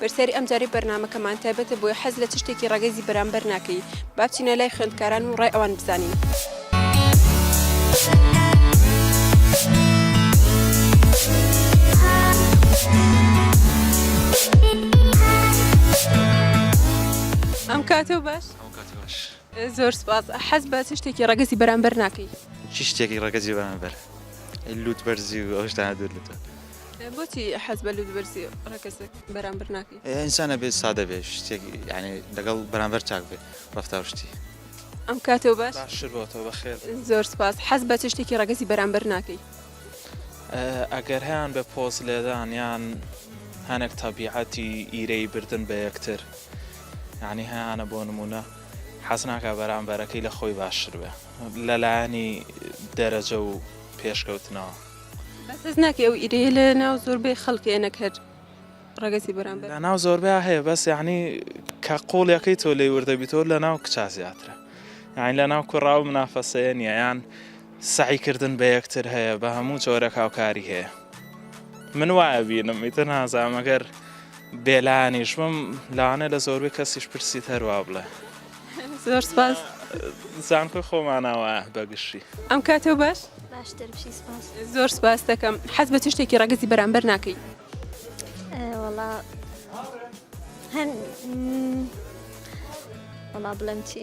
پرسیاری ئەم جارەی بەرنامەکەمان تایبەتە بۆی حەز لە چ شتێکی ڕەگەزی بەرامبەر ناکەی؟ با بچینە لای خوێندکاران و ڕای ئەوان بزانین. ئەم کاتە و باش زۆر سپاس حەز بە چ شتێکی ڕەگەزی بەرامبەر ناکەی چ شتێکی ڕەگەزی بەرامبەر لوت بەرزی و ئەوشتانە دوور لەتە بۆچی حەز بە لوتبەرزی ڕەگەزەک بەرامبەر ناکەی؟ ئینسان ئەبێت سادە بێت شتێک یعنی لەگەڵ بەرامبەر چاک بێت ڕەفتار شتی ئەم کاتەوە باش باشتر بۆتەوە بەخێر زۆر سپاس حەز بە چ شتێکی ڕەگەزی بەرامبەر ناکەی ئەگەر هەیان بە پۆز لێدان یان هەنێک تەبیعەتی ئیرەی بردن بە یەکتر یعنی هەیانە بۆ نمونە حەز ناکە بەرامبەرەکەی لە خۆی باشتر بێ لەلایەنی دەرەجە و پێشکەوتنەوە بەس هەست ناکەی ئەو ئیرەیە لە ناو زۆربەی خەڵکێ نەک هەر ڕەگەزی بەرامبەر؟ لە ناو زۆربەیا هەیە بەس یانی کە قۆڵیەکەی تۆ لێی وردە بیتەوە لە ناو کچا زیاترە یانی لە ناو کوڕا ئەو منافەسەیە نییە یان سەعیکردن بە یەکتر هەیە بە هەموو جۆرەک هاوکاری هەیە من وایە بینم ئیتر نازانم ئەگەر بێلانیش بم لەوانەیە لە زۆربەی کەسیش پرسیت هەروا بڵێ زۆر سپاس. زانکۆی خۆمانە وە بەگشتی. ئەم کاتەو باش؟ باشتر بشی سپاس. زۆر سپاس دەکەم. حەز بە چ شتێکی ڕەگەزی بەرامبەر ناکەی؟ وەڵا هەن وەڵا بڵێم چی؟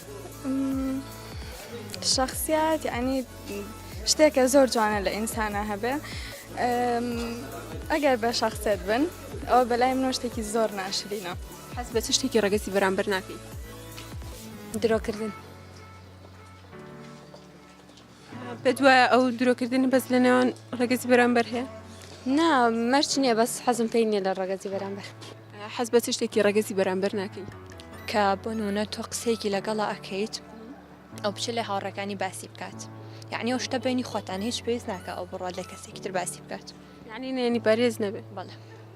شخصیت یعنی شتێکە زۆر جوانە لە ئینسانە هەبێ ئەگەر بە شخصێت بن ئەو بەلای منۆ شتێکی زۆر ناشرینە حەز بە چ شتێکی ڕگەسی بەرامبەر ناکەیت درۆکردن پێت وایە ئەو درۆکردنی بەس لە نێوان ڕێگەزی بەرامبەر هەیە نا مەرچ نییە بەس حەزم پێی نیە لە ڕێگەزی بەرامبەر حەز بە چ شتێکی ڕێگەزی بەرامبەر ناکەین کە بۆ نمونە تۆ قسەیەکی لەگەڵا ئەکەیت ئەو بچ لە هاوڕەکانی باسی بکات یعنی ئەو شتە بینی خۆتان هیچ پێویست ناکە ئەو بڕات لە کەسێکی تر باسی بکات یعنی نێنی پارێز نەبێت بەڵێ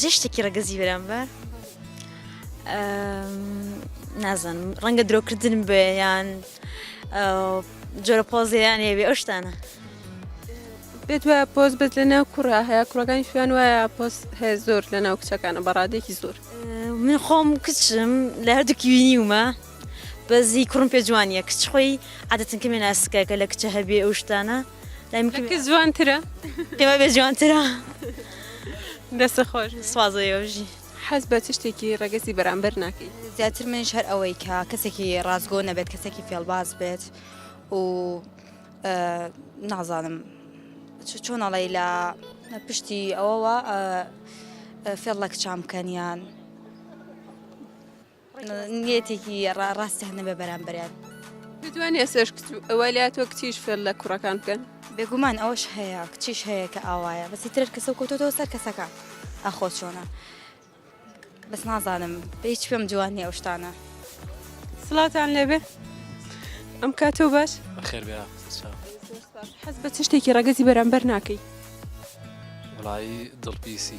جێ شتێکی ڕەگەزی برام بە نازانم ڕەنگە درۆکردن بێ یان جۆرە پۆزیان هێبێ ئەو شتانە پێت وایە پۆست بێت لە ناو کوڕە هەیە کوڕەکانی شوێن وایە پۆست هەیە زۆر لە ناو کچەکانە بەڕادێکی زۆر من خۆم کچم لە هەردووکی وینیومە بەس هی کوڕم پێ جوانیە کچ خۆی عادەتن کەمێ ناسکە کە لە کچە هەبێ ئەو شتانە لای من کچ جوانترە پێما بێ جوانترە دەستە خۆش سوازەیەژی حەز بە چ شتێکی ڕەگەزی بەرامبەر ناکەی زیاتر منش هەر ئەوەی کە کەسێکی ڕاستگۆ نەبێت کەسێکی فێڵباز بێت و نازانم چۆنەڵی لە پشتی ئەوەوە فێڵ لە کچام بکەنیان نیەتێکی ڕا ڕاستی هەنە بە بەرامبەریان. دەتوانی ئێسش وەلیا تۆ کچیش فێر لە کوڕەکان بکەن بێگومان ئەوش هەیە کچیش هەیە کە ئاوایە بەسی ترەر کەسە کۆتۆتەوە سەر کەسەکە ئەخۆ چۆنە بەس نازانم بە هیچ پێم جوانی ئەو شتانە سڵاتان لێبێ ئەم کاتۆ باش خێر بێ حەز بە چ شتێکی ڕەگەزی بەرامبەر ناکەی وڵایی دڵپیسی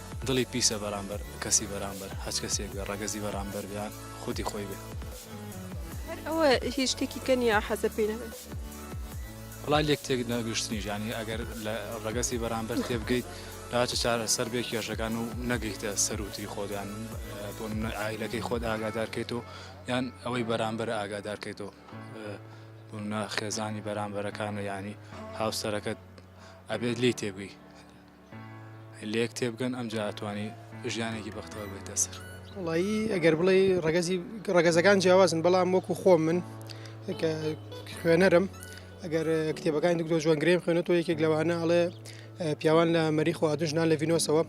دڵی پیسە بەرامبەر کەسی بەرامبەر هەچ کەسێک بێ ڕەگەزی بەرامبەر بێ یان خودی خۆی بێ. هەر ئەوە هیچ شتێکی کە نیە حەزە پێی نەبێت. وەڵا لێک تێک نەگشتنیش یانی ئەگەر لە ڕەگەزی بەرامبەر تێبگەیت دا چ چارەسەر بێ کێشەکان و نەگەیتە سەروتری خۆت یان بۆ منە ئایلەکەی خۆت ئاگادارکەیت و یان ئەوەی بەرامبەر ئاگادارکەیتەوە بوونە خێزانی بەرامبەرەکانە یانی هاوسەرەکەت ئەبێت لێی تێبگەی. لێک تێبگەن ئەمجا ئەتوانی ژیانێکی بەختەوە بێت دەسەر. وڵایی ئەگەر بڵێ ڕگەزی ڕگەزەکان جیاوازن بەڵام وەکو خۆم من خوێنەرم ئەگەر کتێبەکانی دکتۆ جوان گرێم خوێنێت تۆ یەکێک لەوانە ئەڵێ پیاوان لە مەری خواردنژنان لە ڤینۆسەوە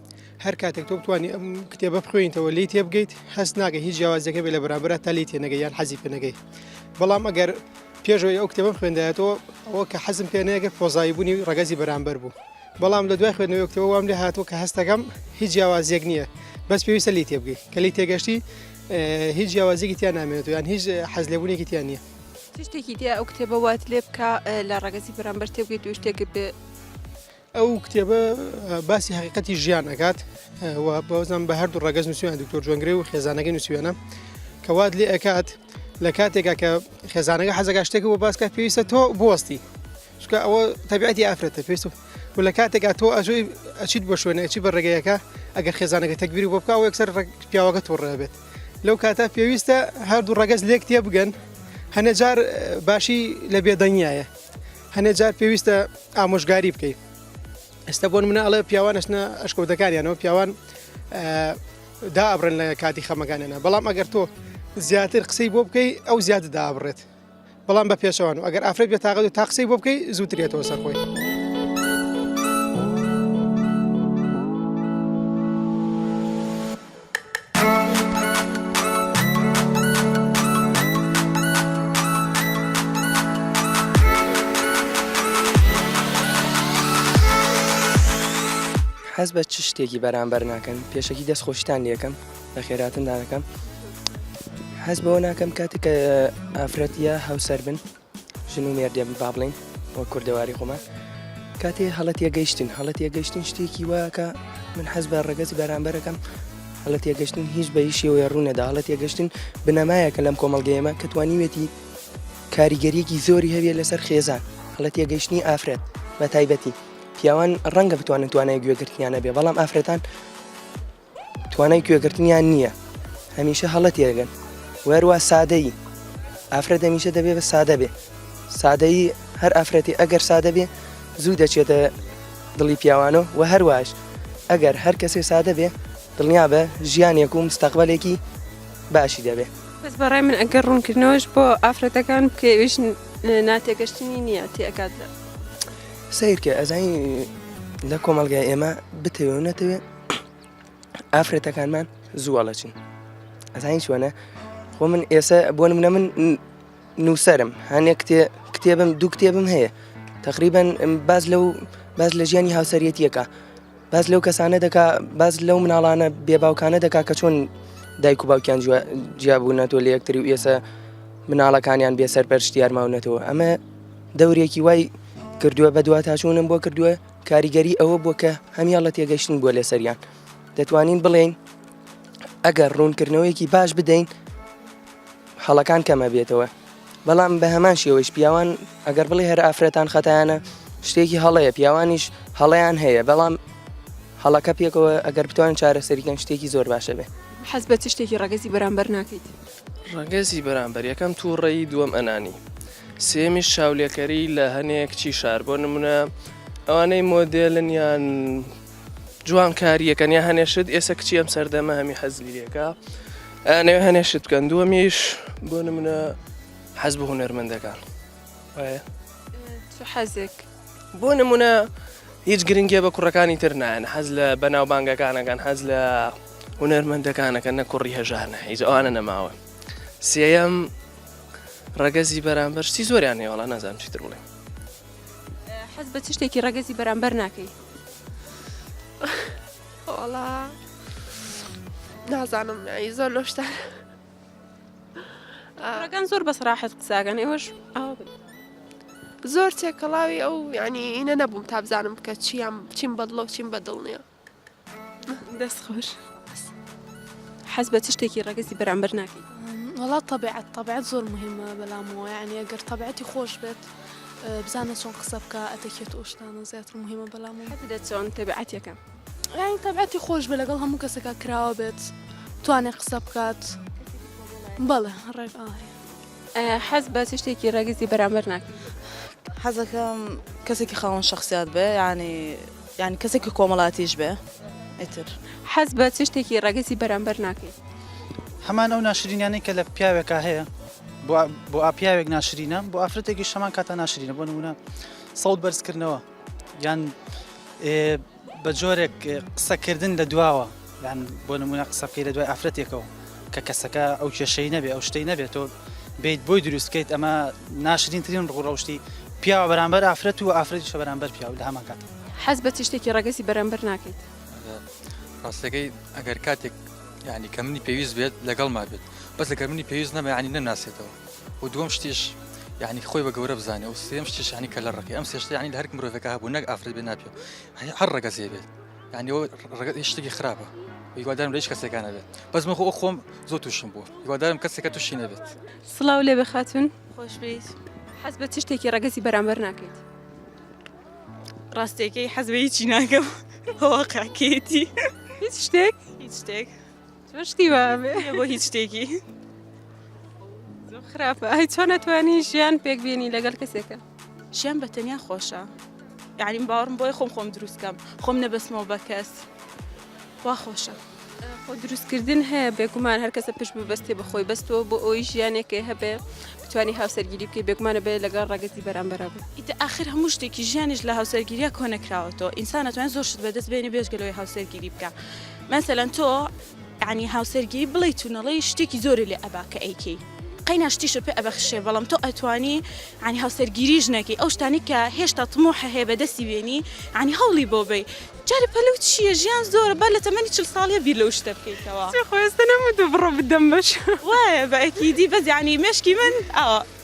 هەر کاتێک تۆ بتانی ئەم کتێبە بخوێنیتەوە لی تێبگەیت هەست ناگە هیچ جیاوازەکە بێ لە بەرامبرا تا لی تێنەگە یان حەزی پێنەگەی بەڵام ئەگەر پێشەوەی ئەو کتێبم خوێندایەتەوە ئەوە کە حەزم پێنەیەگە پۆزایبوونی ڕگەزی بەرامبەر بوو بەڵام لە دوای خوێندنەوەی کتێبە وام لێ هاتووە کە هەستەکەم هیچ جیاوازیەک نییە بەس پێویستە لی تێ بگەی کە لی تێگەشتی هیچ جیاوازیەکی تیان نامێنێت یان هیچ حەز لێبوونێکی تیان نییە شتێکی دی ئەو کتێبە وات لێ بکە لە ڕگەزی بەرامبەر تێ بگەیت و شتێک بێ ئەو کتێبە باسی حقیقەتی ژیان ئەکات و بەوزان بە هەردوو ڕگەز نووسیان دکتۆر جوێنگری و خێزانەکەی نووسوێنە کەوات لێ ئەکات لە کاتێکا کە خێزانەکە حەزەکە شتێک بۆ باسکە پێویستە تۆ بوەستی چونکە ئەوە تەبیعەتی ئافرەتە پێست و و لە کاتێکا تۆ ئەژۆی ئەچیت بۆ شوێنە ئەچی بە ڕێگەیەکە ئەگەر خێزانەکە تەگبیری بۆ بکە و یەکسەر ڕێک- پیاوەکە تۆ ڕێ بێت لەو کاتە پێویستە هەردوو ڕەگەز لێک تێ بگەن هەنێ جار اه، باشی لە بێدەنگیایە هەنێ جار پێویستە ئامۆژگاری بکەیت ئێستا بۆن منە ئەڵێ پیاوان ئەچنە ئەشکەوتەکانیانەوە پیاوان اه، دا ئەبڕێن لە کاتی خەمەکانیانە بەڵام ئەگەر تۆ زیاتر قسەی بۆ بکەی ئەو زیاتر دابڕێت بەڵام بە پێچەوان و ئەگەر ئافرەت بێ تاقەت و تا قسەی بۆ بکەی زووتر یێتەوە سەر خۆی. حەز بە چ شتێکی بەرامبەر ناکەن پێشەکی دەست خۆشتان لەکەم بەخێراتن دانەکەم حەز بەوە ناکەم کاتێک کە ئافرەتە هاوسەر بن ژن و مێردێ بن با بڵین بۆ کوردەواری خۆمان کاتێ هەڵەت یەگەیشتن هەڵەت یەگەشتن شتێکی واکە من حەز بە ڕگەزی بەرامبەرەکەم هەڵەت یەگەشتن هیچ بە هیچ شێوەیە ڕوونەدا هەڵەت یەگەشتن بنەمایەکە لەم کۆمەڵگەیەمە کە توانیوێتی کاریگەریەکی زۆری هەویە لەسەر خێزان هەڵەت یەگەشتنی ئافرەت بە تایبەتی پیاوان ڕەنگە بتوانن توانای گوێگرتنیانە بێ بەڵام ئافرەتان توانای گوێگرتنیان نییە هەمیشە هەڵە تێگەن وەروە سادەیی ئافرەت هەمیشە دەبێ بە سادە بێ سادەیی هەر ئافرەتی ئەگەر سادە بێ زوو دەچێتە دڵی پیاوانە و هەرواش ئەگەر هەر کەسێ سادە بێ دڵنیا بە ژیانێک و مستەقبلێکی باشی دەبێ بەس بەڕای من ئەگەر ڕوونکردنەوەش بۆ ئافرەتەکان بکەویش ناتێگەشتنی نییە تێکات سیرکە ئەزانی لە کۆمەلگای ئێمە بتەوێ و نەتەوێت ئافرەتەکانمان زوو ئەڵەچن ئەزانین چۆنە خۆ من ئێستا بۆ منە من نووسرم هەنێک کتێ کتێبم دوو کتێبم هەیە تقریبان باز لەو باز لە ژیانی هاوسەرەتیەکە باز لەو کەسانە دەکا باز لەو مناڵانە بێباوکانە دەکا کە چۆن دایک و باوکیان جیابوونەتۆ لە یەکتری و ئێسە مناڵەکانیان بێسەر پەرشتیارماونەتەوە ئەمە دەورێکی وای کردووە بە دو تاچوونم بۆ کردووە کاریگەری ئەوە بووە کە هەموان لە تێگەشتن بووە لەسەریان دەتوانین بڵێین ئەگەر ڕوونکردنەوەیەکی باش بدەین هەڵەکان کەمە بێتەوە بەڵام بە هەمان شێوەش پیاوان ئەگەر بڵێ هەر ئافرەتان خەتانە شتێکی هەڵەیە پیاوانیش هەڵیان هەیە بەڵام هەڵەکە پێکەوە ئەگەر بتوان چارەسەریکەن شتێکی زۆر باشە بێ حەز بە چ شتێکی ڕەگەزی بەرامبەر ناکەیت ڕەگەزی بەرامبەر یەکەم تووڕەیی دووەم ئەنانی سێمیش چاولێکەری لە هەنێک چی شار بۆ نمونە ئەوانەی مۆدێلن یان جوانکاریەکەن یا هەنێشت ئێستا کچی ئەم سەردەمە هەمی حەزلیەکە ئەنەوێ هەنێشت بکەن دووەمیش بۆ نمونە حەز بە هوەرمەندەکان حەزێک بۆ نمونە هیچ گرنگیە بە کوڕەکانی تر نایەن حەز لە بەناوبانگەکانەکان حەز لە هونەرمەندەکانەکە نە کوڕی هەژانە هیچ ئەوانە نەماوە سێەم ڕەگەزی بەرامبەر شتی زۆریان هێوەڵە نازانم چیتر بڵێ حەز بە چ شتێکی ڕەگەزی بەرامبەر ناکەی نازانم زۆر لۆشتان. ئەگەن زۆر بەس ڕاحەت قساگەن ئێوەش ئاوا بن زۆر تێکەڵاوی ئەو ینی ئینە نەبووم تا بزانم بکە چیان چیم بەدڵە و چیم بەدڵ نیە دەست خۆش حەز بە چ شتێکی ڕەگەزی بەرامبەر ناکەیت وڵا طبیعەت طبیعەت زۆر مهمە بەلامەوە یعنی ئەگەر طبیعەتی خۆش بێت بزانە چۆن قسە بکە ئەتەکێت ئۆشتانە زیاتر مهمە بەلام دە چۆن تەبعاتەکە یانی تەبعەتی خۆش بێ لەگەڵ هەموو کەسەکە کراوە بێت توانێت قسە بکات بەڵێ ڕێک ئاهێ حەز بە چ شتێکی ڕێگزی بەرامبەر ناکە حەزەکەم کەسێکی خاوەن شخصیات بێ ینی یان کەسێکی کۆمەڵاتیش بێ ئیتر حەز بە چ شتێکی ڕێگزی بەرامبەر ناکەیت هەمان ئەو ناشرینیانەی کە لە پیاوێکا هەیە بۆ ئاپیاوێک ناشرینە بۆ ئافرەتێکی شەمان کاتە ناشرینە بۆ نمونە سەوت بەرزکردنەوە یان بە جۆرێک قسەکردن لە دواوە یان بۆ نمونە قسەکەی لە دوای ئافرەتێکەوە کە کەسەکە ئەو کێشەی نەبێ ئەو شتەی نەبێت تۆ بیت بۆی دروستکەیت ئەمە ناشرینترین ڕوڕەشتی پیاوە بەرامبەر ئافرەت و ئافرەتی شە بەرامبەر پیاو لە هەمان کات حەز بە چشتێکی ڕەگەزی بەرامبەر ناکەیت ڕاستەکەی ئەگەر کاتێک ینی کە منی پێویست بێت لەگەڵ ما بێت بەس لەگەر منی پێویست نەمە ینی نەناسێتەوە و دووەم شتیش یعنی خۆی بە گەورە بزانێ و سێم شتیش ینی کە لە ڕقی ئەم سێشتە ینی هەر مرۆڤەکە هەبوو نەک ئافرەت بێ ناپێ هەر ڕگە زێ بێت ینی ڕگەت شتێکی خراپە هیوادارم لەش کەسەکانە بێت بەس من خۆ خۆم زۆر تووشم بوو هیوادارم کەسێکە تووشی نەبێت سلااو لێ بخاتون خۆش بێت حەز بە چ شتێکی ڕگەزی بەرامبەر ناکەیت ڕاستێکی حەزبەی چی ناکەم هەواقعکێتی هیچ شتێک هیچ شتێک چۆن شتی وا ئەبێ؟ نییە بۆ هیچ شتێکی زۆر خراپە ئەی چۆن نەتوانی ژیان پێک بینی لەگەل کەسێکە ژیان بە تەنیا خۆشە یعنی من باوەڕم بۆی خۆم خۆم دروست کەم خۆم نەبەستمەوە بە کەس وا خۆشە خۆ دروستکردن هەیە بێگومان هەر کەسە پشت ببەستێ بە خۆی بەستەوە بۆ ئەوی ژیانێکێ هەبێ بتوانی هاوسەرگیری بکەی بێگومانە بێ لەگەڵ ڕەگەزی بەرامبەرا بێ ئیتە ئاخر هەموو شتێکی ژیانیش لە هاوسەرگیریە کۆنەکراوەتەوە ئینسان ناتوانێت زۆر شت بەدەست بێنێ بێژگە لەوەی هاوسەرگیری بکە مەسەلەن تۆ یانی هاوسەرگیری بڵێی تونەڵی شتێکی زۆری لێ ئەبا کە ئەیکەی قەینا شتیشە پێ ئەبەخشێ بەڵام تۆ ئەتوانی ینی هاوسەرگیری ژنەکەی ئەو شتانی کە هێشتا تمۆحە هەیە بە دەستی بێنی ینی هەوڵی بۆ بی جارە پەلو چییە ژیان زۆر بە لە تەمەنی چل ساڵە بیر لەو شتە بکەیتەوە خۆێستە نەمە دوو بڕۆ بدەم بەش وایە بەکیدی بەزیانی مشکی من ئەوە.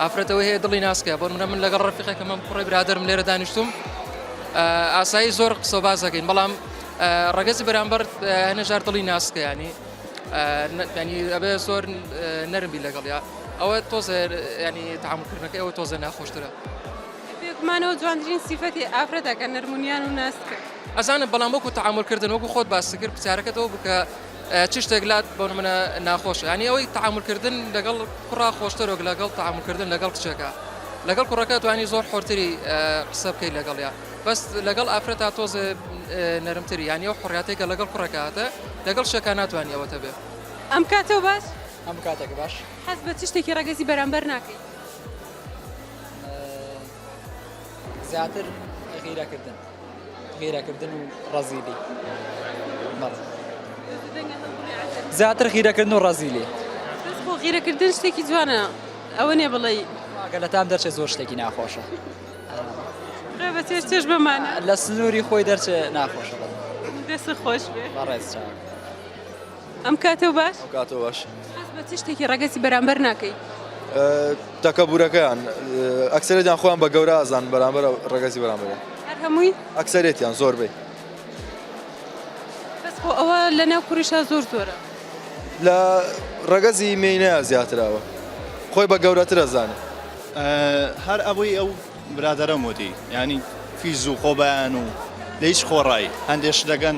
ئافرەت ئەوەی هەیە دڵی ناسکە بۆ نمونە من لەگەڵ ڕەفیقێکم هەم کوڕەی برادەرم لێرە دانیشتووم ئاسایی زۆر قسە و باس دەکەین بەڵام ڕەگەزی بەرامبەر هەنێژار دڵی ناسکە ینی ینی ئەبێ زۆر نەرمی لەگەڵیا ئەوە تۆزێ ینی تامکردنەکە ئەوە تۆزێ ناخۆشترە پێکمانەوە جوانترین سیفەتی ئافرەتەکە نەرمونیان و ناسکە ئەزانم بەڵام وەکو تەعاملکردن وەکو خۆت باس کرد پرسیارەکەتەوە بکە چ شتێک لات بۆ نمونە ناخۆشە یانی ئەوەی تەعامول کردن لەگەڵ کوڕا خۆشتر وەک لەگەڵ تەعامول کردن لەگەڵ کچەکە لەگەڵ کوڕەکە توانی زۆر حۆرتری قسە بکەیت لەگەڵیا بەس لەگەڵ ئافرەتا تۆزێ نەرمتری یانی ئەو حڕاتێکە لەگەڵ کوڕەکە هاتە لەگەڵ شەکە ناتوانانی ئەوەتە بێ ئەم کاتەوە باش ئەم کاتێکە باش حەز بە چ شتێکی ڕەگەزی بەرامبەر ناکەیت زیاتر غیرەکردن غیرەکردن و ڕەزیلی زیاتر غیرەکردن و ڕەزیلی بۆ غیرەکردن شتێکی جوانە ئەوە نێ بڵێ گە لە تام دەرچێت زۆر شتێکی ناخۆشە چێش بەمانە لە سنووری خۆی دەرچێت ناخۆشە دەست خۆش بێ ڕێز چاک ئەم کاتەو باش ئەم کاتەو باش حەز بە چ شتێکی ڕەگەزی بەرامبەر ناکەی؟ تەکەبورەکەیان ئەکسەرێتیان خۆیان بە گەورە ئازان بەرامبەر ڕەگەزی بەرامبەر هەر هەمووی ئەکسەرێتیان زۆربەی بەس خۆ ئەوە لە ناو کوریشا زۆر زۆرە لە ڕەگەزی مێینەیە زیاتراوە خۆی بە گەورەترە زانێ هەر ئەوەی ئەو برادەرم وتی یانی فیز و خۆبەیان و لە هیچ خۆڕایی هەندێک شت دەکەن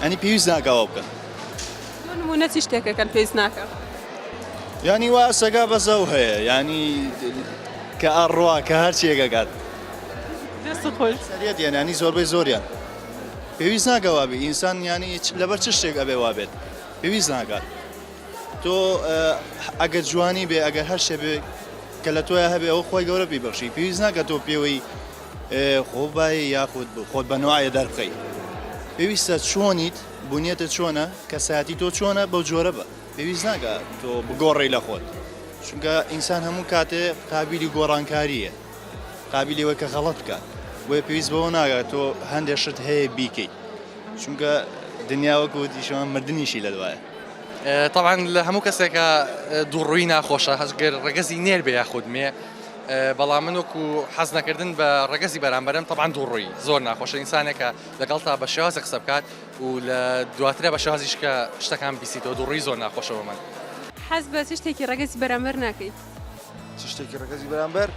ئەنی پێویست ناکە ئەوە بکەن دوو نموونە چی شتێکەکەن پێویست ناکە یانی وا سەگا بەزە و هەیە یانی کە ئەڕوا کە هەرچیەکەکات دەست خۆش سەریەت یانانی زۆربەی زۆریان پێویست ناکە وابێ ئینسان یانی لەبەر چ شتێک ئەبێ وابێت پێویست ناکات تۆ ئەگەر جوانی بێ ئەگەر هەر شتێ بێ کە لە تۆیە هەبێ ئەوە خۆی گەورە پێی بەخشی پێویست ناکە تۆ پێوەی خۆ بایە یاخود بۆ خۆت بە نوعاە دەربخەی پێویستە چۆنیت بنیەتە چۆنە کەسایەتی تۆ چۆنە بەو جۆرە بە پێویست ناکە تۆ بگۆڕی لە خۆت چونکە ئینسان هەموو کاتێ قابلی گۆڕانکاریە قابلیەوە کە غەڵت بکات بۆیە پێویست بەوە ناگات تۆ هەندێک شت هەیە بیکەیت چونکە دنیاوەکو دیشەوە مردنیشی لە دوایە تەبعەن لە هەموو کەسێکا دووڕووی ناخۆشە هەزگەر ڕەگەزی نێر بێ یاخود مێ بەڵام من وەکو حەز نەکردن بە ڕەگەزی بەرامبەرم تەبان دووڕووی زۆر ناخۆشە ئینسانێکە لەگەڵ تا بە شێوازە قسە بکات و لە دواترە بە شازیشکە شتەکان بیسیتەوە دووڕووی زۆر ناخۆشەوە من حەز بە چ شتێکی ڕەگەزی بەرامبەر ناکەیت چ شتێکی ڕەگەزی بەرامبەر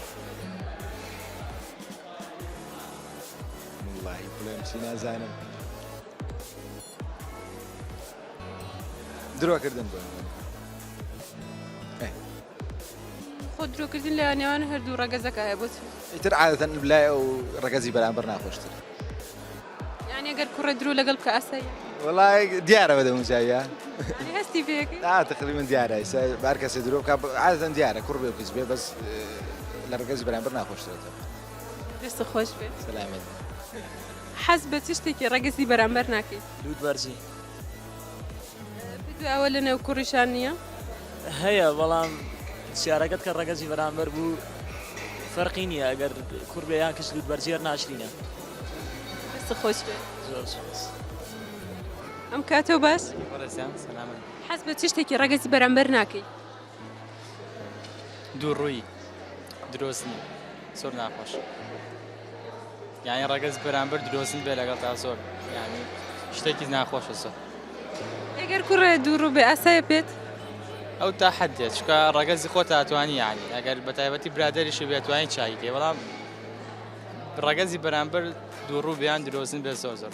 بڵێم چی نازانم. درۆکردن بۆ خۆ درۆکردن لە نێوان هەردوو ڕەگەزەکە هەیە بۆچ ئیتر عادەتەن لای ئەو ڕەگەزی بەرامبەر ناخۆشتر یعنی گەر کوڕە درو لەگەڵ بکە ئاسایی وڵای دیارەوە دەموجاویە هەستی پێ تقلی من دیارە بار کەسێ درۆ بکە عادەن دیارە کوڕ بێ بچ بێ بەس لە ڕگەزی بەرامبەر ناخۆشترێتەوە دەست خۆش بێت سلامەت حەز بە چ شتێکی ڕەگەزی بەرامبەر ناکەیت؟ لووت بەرزی. بدوێ ئەوە لە نێو کوڕیشان نییە؟ هەیە بەڵام سیارەکەت کە ڕەگەزی بەرامبەر بوو فەرقی نییە ئەگەر کوڕ بێ یان کچ لووت بەرزیەر ناشرینە. دەست خۆش بێ. زۆر سوپاس. ئەم کاتەو باش؟ بەڕێزیان سەلامەت. حەز بە چ شتێکی ڕەگەزی بەرامبەر ناکەیت؟ دوو ڕووی درۆزن زۆر ناخۆش یعنی ڕەگەز بەرامبەر درۆزن بێ لەگەڵ تا زۆر ینی شتێکی ناخۆشە زۆر ئەگەر کوڕێ دوو ڕوو بێ ئاسایە پێت ئەو تا حد دێت چکە ڕەگەزی خۆ تاتوانی ینی ئەگەر بە تایبەتی برادریشی بێتوانین چاکی بەڵام ڕەگەزی بەرامبەر دوو ڕوو بیان درۆزن بێ زۆر زۆر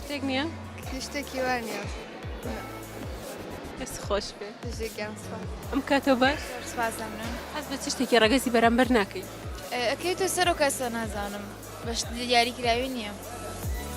شتێک نییە شتێکی وا نیە دەست خۆش بێ دژێکیان ئەم کاتەوە باش سپاسم حەز بە چ شتێکی ڕەگەزی بەرامبەر ناکەیت ئەکەیتە سەر و کەسە نازانم بەشت دیاری کراوی نییە.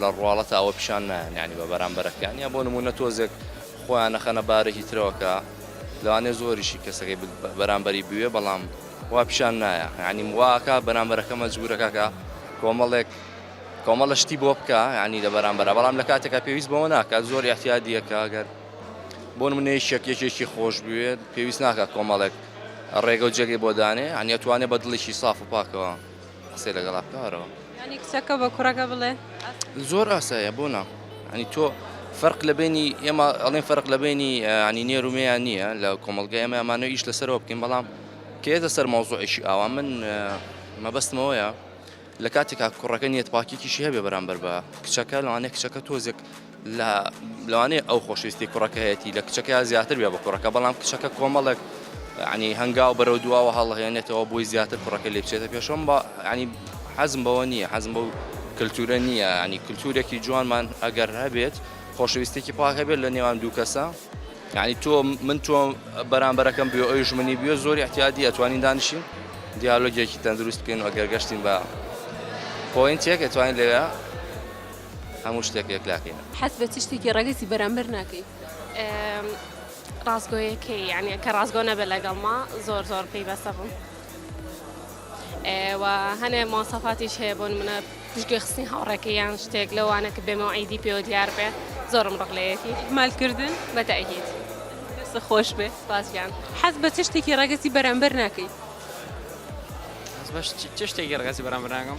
لە ڕواڵەتا ئەوە پیشان نایەن ینی بە بەرامبەرەکان یا بۆ نمونە تۆزێک خۆیان نەخەنە بارێکی ترەوەکە لەوانێ زۆریشی کەسەکەی بەرامبەری بوێ بەڵام وا پیشان نایە ینی واکە بەرامبەرەکە مەجبورەکەکە کۆمەڵێک کۆمەڵە شتی بۆ بکە ینی لە بەرامبەر بەڵام لە کاتێکە پێویست بەوە ناکات زۆر احتیادیەکە گەر بۆ منێش شەک یەکێکی خۆش بوێت پێویست ناکات کۆمەڵێک ڕێگە و جێگەی بۆ دانێ ئەنیەتوانێت بە دڵێکی ساف و پاکەوە قسەی لەگەڵا بکە ئەرەوە. یانی کچەکە بە کوڕەکە بڵێ ئاسایە؟ زۆر ئاسایە بۆ نا یانی تۆ فەرق لە بەینی ئێمە ئەڵێن فەرق لە بەینی یانی نێر و مێیان نییە لە کۆمەڵگای ئێمە ئەمانە ئیش لەسەرەوە بکەین بەڵام کە یەتە سەر مەوزوعێکی ئاوا من مەبەستمەوەیە لە کاتێکا کوڕەکە نیەتپاکیکیشی هەبێ بەرامبەر بە کچەکە لەوانەیە کچەکە تۆزێک لە لەوانەیە ئەو خۆشویستی کوڕەکە هەیەی لە کچەکەیا زیاتر بێ بە کوڕەکە بەڵام کچەکە کۆمەڵێک عنی هەنگاو بەرەو دواوە هەڵهێنێتەوە بۆی زیاتر کوڕەکە لێ بچێتە پێشم بە عنی حەزم بەوە نییە حەزم بەو کللتورە نییە عنی کللتورێکی جوانمان ئەگەر هەبێت خۆشویستێکی پاک هەبێت لە نێوان دوو کەسە ینی تۆ من تۆ بەرامبەرەکەم بێ ئەوی ژمنی بێ زۆری احتیادی ئەتوانین دانیشین دیالۆگێکی تەندروست بکەین و ئەگەر گەشتین بە پۆینتێک ئەتوانین لەوێ هەموو شتێک یەکلاکەین. حەز بە چ شتێکی ڕەگەزی بەرامبەر ناکەی؟ ڕاستگۆیەکەی یعنی کە ڕاستگۆ نەبێت لەگەڵما زۆر زۆر پێی بەسە بووم و هەنێ ماسەفاتیش هەیە بۆ منە پشتگوێ خستنی هاوڕێکە یان شتێک لەوانە کە بێمە عیدی پێوە دیار بێ زۆرم ڕقلەیەتی مالکردن بەتەهیت خۆش بێ باسیان حەز بە چ شتێکی ڕەگەزی بەرامبەر ناکەی چ شتێکی ڕگەزی بەرامبەر ناگەم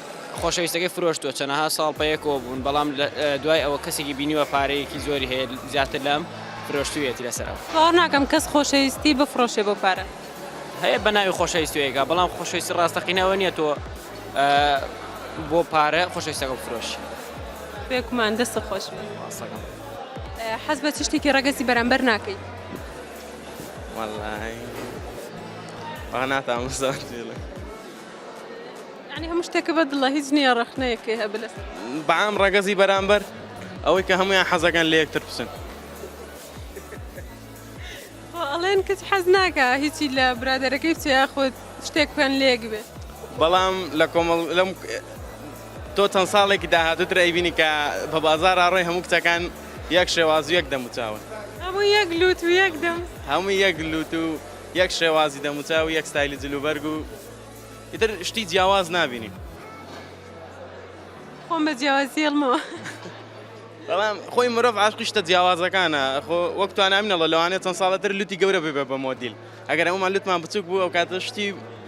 خۆشەویستەکەی فرۆشتووە، چەنەها ساڵ پەیەکەوە بوون، بەڵام دوای ئەوە کەسێکی بینیوە پارەیەکی زۆری هەیە، زیاتر لام فرۆشتوویەتی لەسەر ئەو. باوەڕ ناکەم کەس خۆشەویستی بفڕۆشێ بۆ پارە. هەیە بە ناوی خۆشەویستی ئەیکا، بەڵام خۆشەویستی ڕاستەقینە ئەوە نییە تۆ بۆ پارە خۆشەویستەکە بفرۆشی. بێگومان، دەستت خۆش بێت. سپاس دەکەم. حەز بە چ شتێکی ڕەگەزی بەرامبەر ناکەی؟ وەڵڵاهی وا ناتوانم بزانم. یانی هەموو شتێکە بە دڵە هیچ نییە ڕەخنەیەکێ هەب لەس بەعام ڕەگەزی بەرامبەر ئەوەی کە هەمویان حەزەکەن لە یەکتر بچن ئەڵێن کەس حەز ناکە هیچی لە برادەرەکەی بچێ خۆت شتێک بکەن لێک بێ بەڵام لە کۆمەڵ لەم تۆ چەند ساڵێکی داهاتوتر ئەیبینی کە بە بازار ئاڕۆی هەموو کچەکان یەک شێواز و یەک دەموچاون هەموو یەک لوت و یەک دەم هەموو یەک لوت و یەک شێوازی دەموچاو و یەک ستایلی جلوبەرگ و ئیتر شتی جیاواز نابینی. خۆم بە جیاوازی هێڵمەوە. بەڵام خۆی مرۆڤ عاشقی شتە جیاوازەکانە خۆ وەک توانامینەڵە لەوانێت چەند ساڵەتر لوتی گەورە ببێ بە مۆدیل ئەگەر ئەومان لوتمان بچوک بوو ئەو کاتە شتی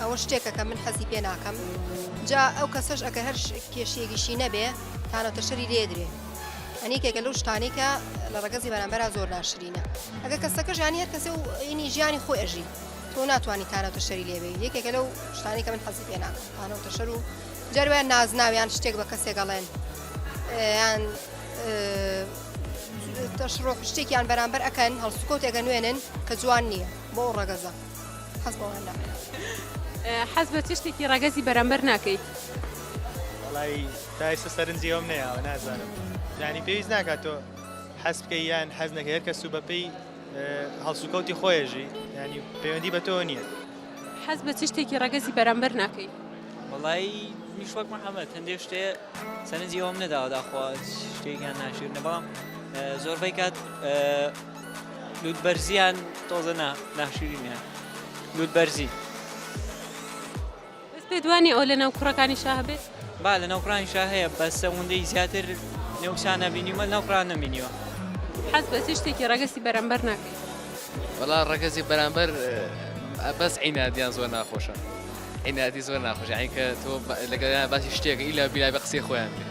ئەوە شتێکە کە من حەزی پێ ناکەم جا ئەو کەسەش ئەگەر هەر کێشیێکیشی نەبێ تانەوتە شەری لێدرێ ئەنیکێکە لەو شتانی کە لە ڕگەزی بەرامبەر زۆر ناشرینە ئەگە کەسەکەش ینی هەر کەسێ و ئینی ژیانی خۆی ئەژی تۆ ناتوانانی تانەوتە شەری لێبێ یەکێکە لەو شتانی کە من حەزی پێ ناکەم تانەوتە شەر و جەروان نازناویان شتێک بە کەسێکەڵێن یان تەشڕۆ شتێکیان بەرامبەر ئەەکەن هەڵسوکۆتێکە نوێنن کە جوان نییە بۆ ڕگەزە حەز بەوە هەر ناکەم. حەز بە چ شتێکی ڕەگەزی بەرامبەر ناکەیت؟ وەڵای تا ئێستا سەرنجی ئەوم نەیاوە نازانم یانی پێویست ناکات تۆ حەز بکەی یان حەز نەکەی هەر کەس و بەپێی هەڵسوکەوتی خۆیەژی ینی پەیوەندی بە تۆ نییە حەز بە چ شتێکی ڕەگەزی بەرامبەر ناکەی وڵی میش وەک محەممەد هەندێک شتێ سەرنجی ئەوم نەداوە داخوا شتێکیان ناشیرنە بەڵام زۆربەی کات لوت بەرزیان تۆزە نا ناشرینیان لوت بەرزی بەس پێ دوانی ئەو لە ناو کوڕەکانی شا هەبێت با لە ناو کوڕانی شا هەیە بە سەوندەی زیاتر نێوشانە بینیمە ناو کوڕان نەمینیوە حەز بە چ شتێکی ڕەگەسی بەرەمبەر ناکەیت بەڵا ڕەگەزی بەرامبەر بەس عینادیان زۆر ناخۆشە عینادی زۆر ناخۆش عینکە تۆ لەگەڵیان باسی شتێکە ئیلا بیلا بە قسەی خۆیان بێت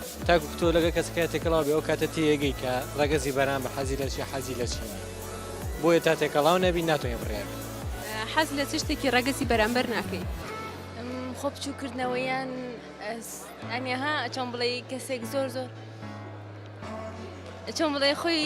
تاکو تۆ لەگەڵ کەسەکە تێکەڵاو بی ئەو کاتە تێگەی کە ڕەگەزی بەران بە حەزی لە چی حەزی لە چی بۆیە تا تێکەڵاو نەبی ناتۆنی بڕیار حەز لە چ شتێکی ڕەگەزی بەرامبەر ناکەی خۆ بچووکردنەوەیان ئەنیها ئەچۆم بڵێ کەسێک زۆر زۆر چۆن بڵێ خۆی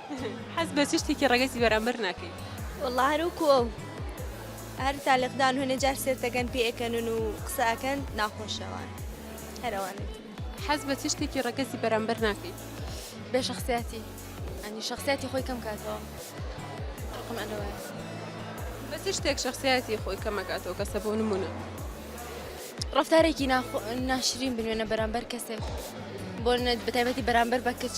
حەز بە چ شتێکی ڕەگەزی بەرامبەر ناکەی؟ وەڵا هەر وەکو ئەو هەر تالیقدان هەنێ جار سێرتەکەن پێ ئەکەنن و قسە ئەکەن ناخۆشەوان هەر ئەوانێت حەز بە چ شتێکی ڕەگەزی بەرامبەر ناکەی؟ بێ شخصیاتی ئەنی شخصیاتی خۆی کەم کاتەوە ڕقم ئەلەوە بە چ شتێک شخصیاتی خۆی کەمەکاتەوە کەسە بۆ نمونە ڕفتارێکی ناشرین بنوێنە بەرامبەر کەسێک بۆ بەتایبەتی بەرامبەر بە کچ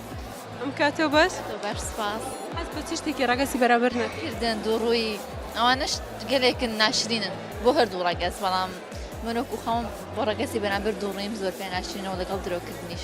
ئەم کاتۆ بەس بەر سپاس حەز بە چ شتێکی ڕەگەسی بەرامبەر نەکرد کردن دوو ڕووی ئەوانش گەلێکن ناشرینن بۆ هەردوو ڕەگەز بەڵام من وەکو خەوم بۆ ڕەگەسی بەرامبەر دوو ڕیم زۆر پێ ناشرینەوە لەگەڵ درۆکردنیش.